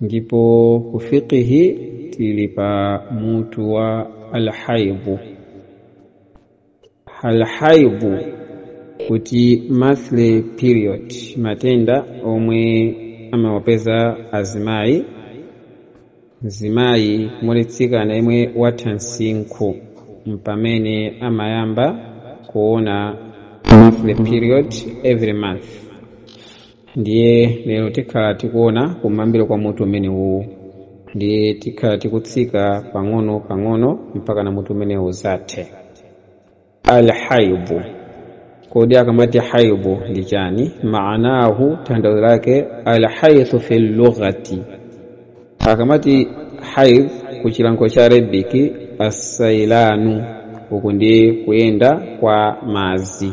ndipo ku fiqhi tili pa mutu wa alhaidhu alhaidhu kuti monthly period matenda omwe amawapeza azimayi mzimayi or mtsikana yemwe watha msinkhu mpamene amayamba kuona monthly period every month ndiye lero tikhala tikuona kumayambiro kwa mutu umene uwu ndiye tikhala tikutsika pang'ono pang'ono mpaka na mutu umene uzathe alhaidhu kodi akamati haidhu ndi chani maanahu tanthauzo lake alhaidhu fi lughati akamati haidh ku chilankhulo cha arabic assailanu uku ndi kuyenda kwa madzi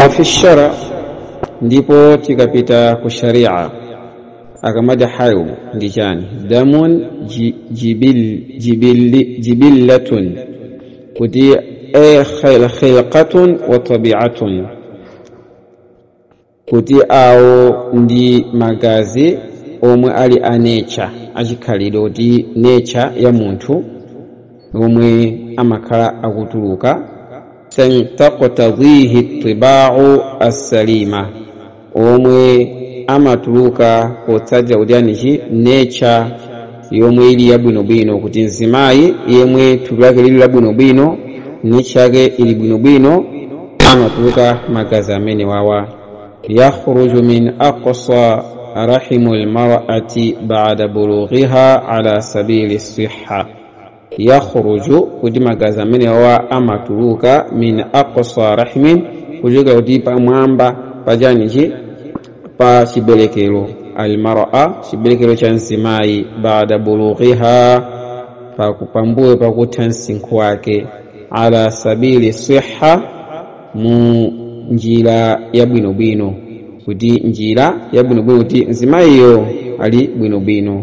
wa fi shara ndipo tikapita ku sharia akamati haidhu ndi chani damun ji- jibil, jibil, jibillatun kuti e khil- khilqatun wa tabiatun kuti awo ndi magazi omwe ali a nature achikhalidwe kuti nature ya munthu omwe amakhala akutuluka taqtadhihi tibau assalima omwe amatuluka potsatira ujanichi nature yomwe ili yabwinobwino kuti mzimayi yemwe thupi lake lili labwinobwino nature yake ili bwinobwino amatuluka magazi amene awa yakhruju min aqsa rahimu lmarati bada bulughiha ala sabili sihha yakhruju kuti magazi amenewa amatuluka min aqsa rahimin kuchokera kuti pamwamba pa ujanichi pa chiberekero almara chiberekero cha mzimayi baada bulughiha pambuyo pakutha msinkhu wake ala sabili sihha mu njira yabwinobwino kuti njira yabwinobwino kuti mzimayiyo ali bwinobwino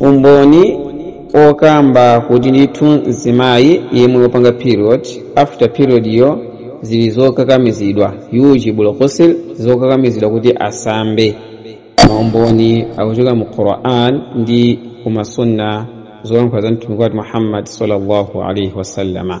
umboni wokamba kuti ndithu mzimayi yemwe wapanga period after period yo zili zokakamizidwa yujibul ghusl zokakamizidwa kuti asambe maumboni akuchoka mu quran ndi kumasunna zolankhula za mtumiki wathu muhammad sallallahu alaihi wasallama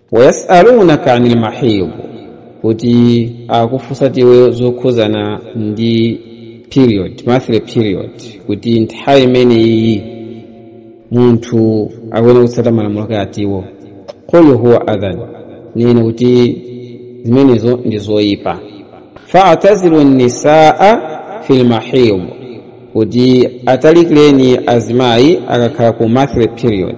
wayasalunaka anil mahid kuti akufunsa tiwe zokhuzana ndi period monthly period kuti nthawi imeneyi munthu akuyenera kutsata malamulo ake atiwo qul huwa adhan nena kuti zimenezo ndi zoyipa faatazilu nisaa fi lmahid kuti atalikireni azimayi akakhala ku monthly period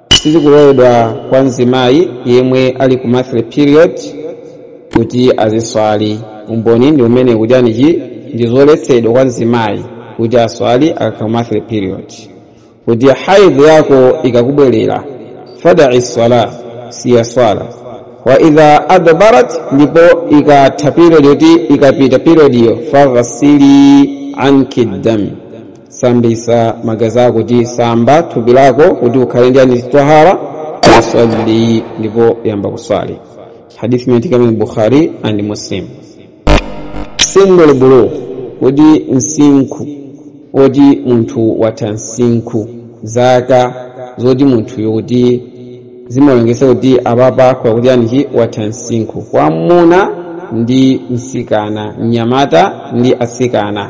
sizikuloledwa kwa mzimayi yemwe ali ku monthly period kuti aziswali umboni ndi umenewu kuti anichi ndi zoletsedwa kwa mzimayi kuti aswali akakhala monthly period kuti haidh yako ikakubwerera fadai swala siya swala wa idha adbarat ndipo ikatha period yoti ikapita periodiyo faghsili anki dam sambisa magazi ako kuti samba thupi lako kuti ukhale ndi anichi tahara wasalli ndipo yamba kuswali hadithi imeneyi ikupezeka mu bukhari and muslim sinnul bulugh kuti msinkhu woti munthu watha msinkhu zaka zoti munthuyo kuti zimalongeza kuti apapa wakuti anichi watha msinkhu kwa mmuna ndi msikana mnyamata ndi asikana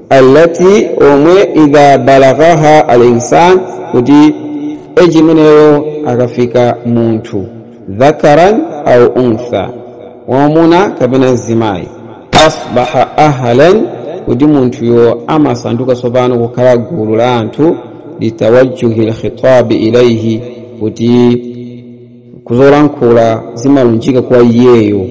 allati omwe idha balaghaha alinsan kuti eji imeneyo akafika munthu dhakaran au untha wamuna kapena mzimayi asbaha ahlan kuti munthuyo amasanduka tsopano kukhala gulu la anthu litawajjuhi lkhitabi ilaihi kuti kuzolankhula zimalunjika kwa iyeyo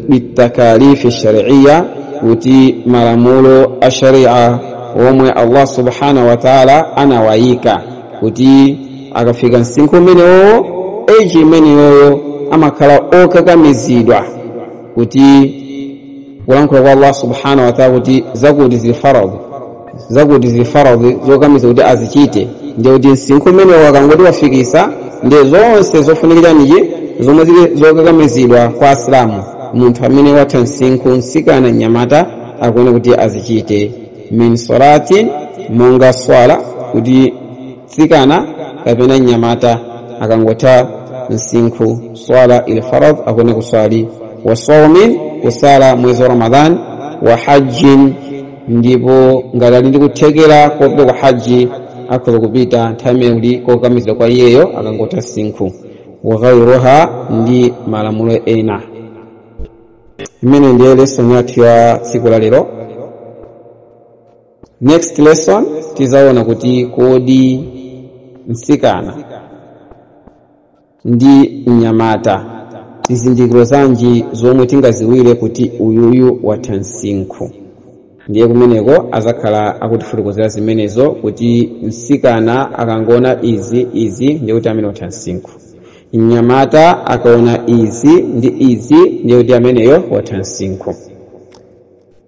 bitakalifi shariya kuti malamulo a sharia omwe allah subhanahu wa taala anawayika kuti akafika msinkhu umeneyowo eji imeneyoyo amakhala okakamizidwa kuti kulankhula kwa allah subhanahu wa taala kuti zakuti zili faradhi zakuti zili faradhi zokakamiza kuti azichite ndiye kuti msinkhu umenewo akangoti wafikisa ndiye zonse zofunika anichi zomwe zili zokakamizidwa kwa asilamu munthu amene watha msinkhu msikana mnyamata akuyenera kuti azichite min salatin monga swala kuti mtsikana kapena mnyamata akangotha msinkhu swala ili faradhi akuyenera kuswali wa saumin kusala mwezi wa ramadan wa hajjin ndipo ngati ali ndi kuthekera kopita ku haji akhoza kupita nthawi imeneyo kuli kokakamizidwa kwa iyeyo akangotha msinkhu wa ghairuha ndi malamulo ena imeneyo ndiye lesson yathu ya tsiku la lero next lesson tizaona kuti kodi msikana ndi mnyamata zizindikiro zanji zomwe tingaziwire kuti uyuyu watha msinkhu ndiye kumeneko azakhala akutifotokozera zimenezo kuti msikana akangoona izi izi ndiye kuti amene watha msinkhu mnyamata akaona izi ndi izi ndiye kuti ameneyo watha msinkhu